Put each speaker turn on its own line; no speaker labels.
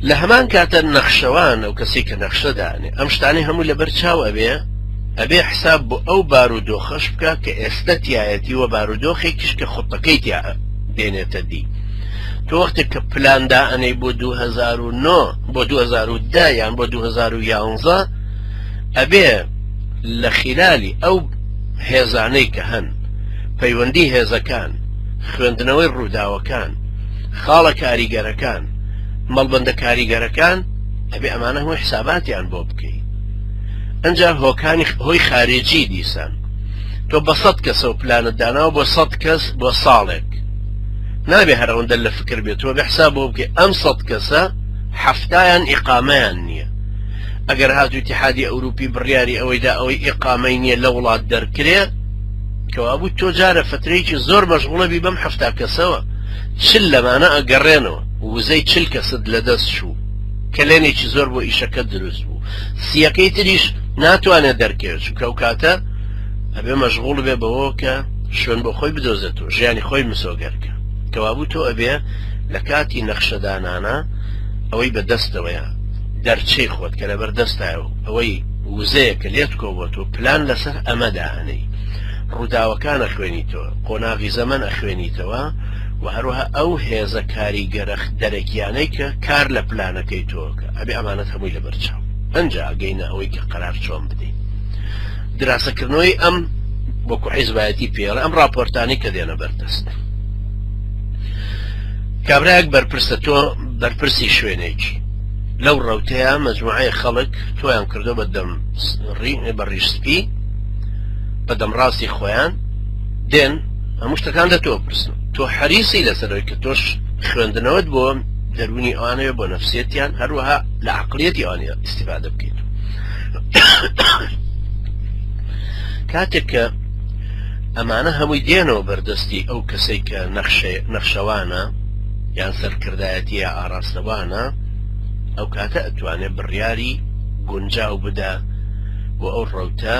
لە هەمان کاتە نەخشەوان ئەو کەسی کە نەخشە دانێ ئەم شتانی هەموو لەبەر چاو ئەبێ ئەبێ حساب بۆ ئەو بار و دۆخەش بکە کە ئێستا تایەتی وە بار و دۆخێکیش کە خوتەکەی تیا دێنێتە دی تۆ وەختێک کە پلاندا ئەنەی بۆ 2009 بۆ 2010 یان بۆ 2011 ئەبێ لە خلالی ئەو هێزانەی کە هەن پەیوەندی هێزەکان خوێندنەوەی ڕووداوەکان خاڵە کاریگەرەکان، مەڵبەندە کاریگەرەکان، ئەبێ ئەمانە هەمووی حساباتیان بۆ بکەی. ئەنجا هۆکانی هۆی خارجی دیسان تۆ بە سەد کەسەو پلانت داناوە بۆ سەد کەس بۆ ساڵێک نابێ هەر ئەوەندە لە فکر بێ تۆ بێ حساب بۆ بکەی ئەم سەد کەسە حەفتایان ئیقامەیان نییە ئەگەر هاتوو تحادی ئەوروپی بڕیاری ئەوەی دا ئەوەی ئیقامەی نییە لە وڵات دەرکرێ کەوابوو تۆ جارە فترەیەکی زۆر مەشغوڵە بی بەم حەفتا کەسەوە چل لەمانە ئەگەڕێنەوە وزەی چل کەست لەدەست چوو، کەلێنێکی زۆر بۆ ئیشەکە دروست بوو، سییەکەی تریش ناتوانێت دەرکەوێت چونکە ئەو کاتە ئەبێ مەشغوڵ بێ بەوەوە کە شوێن بۆ خۆی بدۆزێت و ژیانی خۆی مسۆگەر بکات. کەوابوو تۆ ئەبێ لە کاتی نەخشەدانانا ئەوەی بە دەستەوەیە، دەرچەی خۆت کە لەبەر دەستایە و ئەوەی وزەیە کە لێت کۆبۆتووە پلان لەسەر ئەمە دائەنێی. ڕووداوەکان ئەخوێنیتەوە. قۆناغی زەمەن ئەخوێنیتەوە و هەروەها ئەو هێزە کاریگەرە دەرەکیانەی کە کار لە پلانەکەی تۆکە ئەبێ ئەمانەت هەمووی لە بەرچاو ئەنجا ئەگەینە ئەوەی کە قەرار چۆن بدەین دراسەکردنەوەی ئەم وەکو حیزبایەتی پێڵە ئەم راپۆرتانی کە دێنە بەردەست کابراەک بەرپرسە تۆ بەرپرسی شوێنێکی لەو ڕوتەیە مەجموعەیە خەڵک تۆیان کردو بە دەم بە ڕیشسپی بە دەمڕاستی خۆیان دێن هەموو شتەکان لە تۆ پرسن تۆ حەریسی لەسەرەوەی کە تۆش خوێندنەوەت بۆ دەرونی ئەوانەیە بۆ نەفسێتیان هەروەها لە عقلەتی ئەوانە استفادە بکەیت کاتێک کە ئەمانە هەمووی دێنەوە بەردەستی ئەو کەسێک کە نەخشەوانە یان سەرکردایەتیە ئاراستەوانە ئەو کاتە ئەتوانێت بڕیاری گونجاو بدە بۆ ئەو ڕەوتە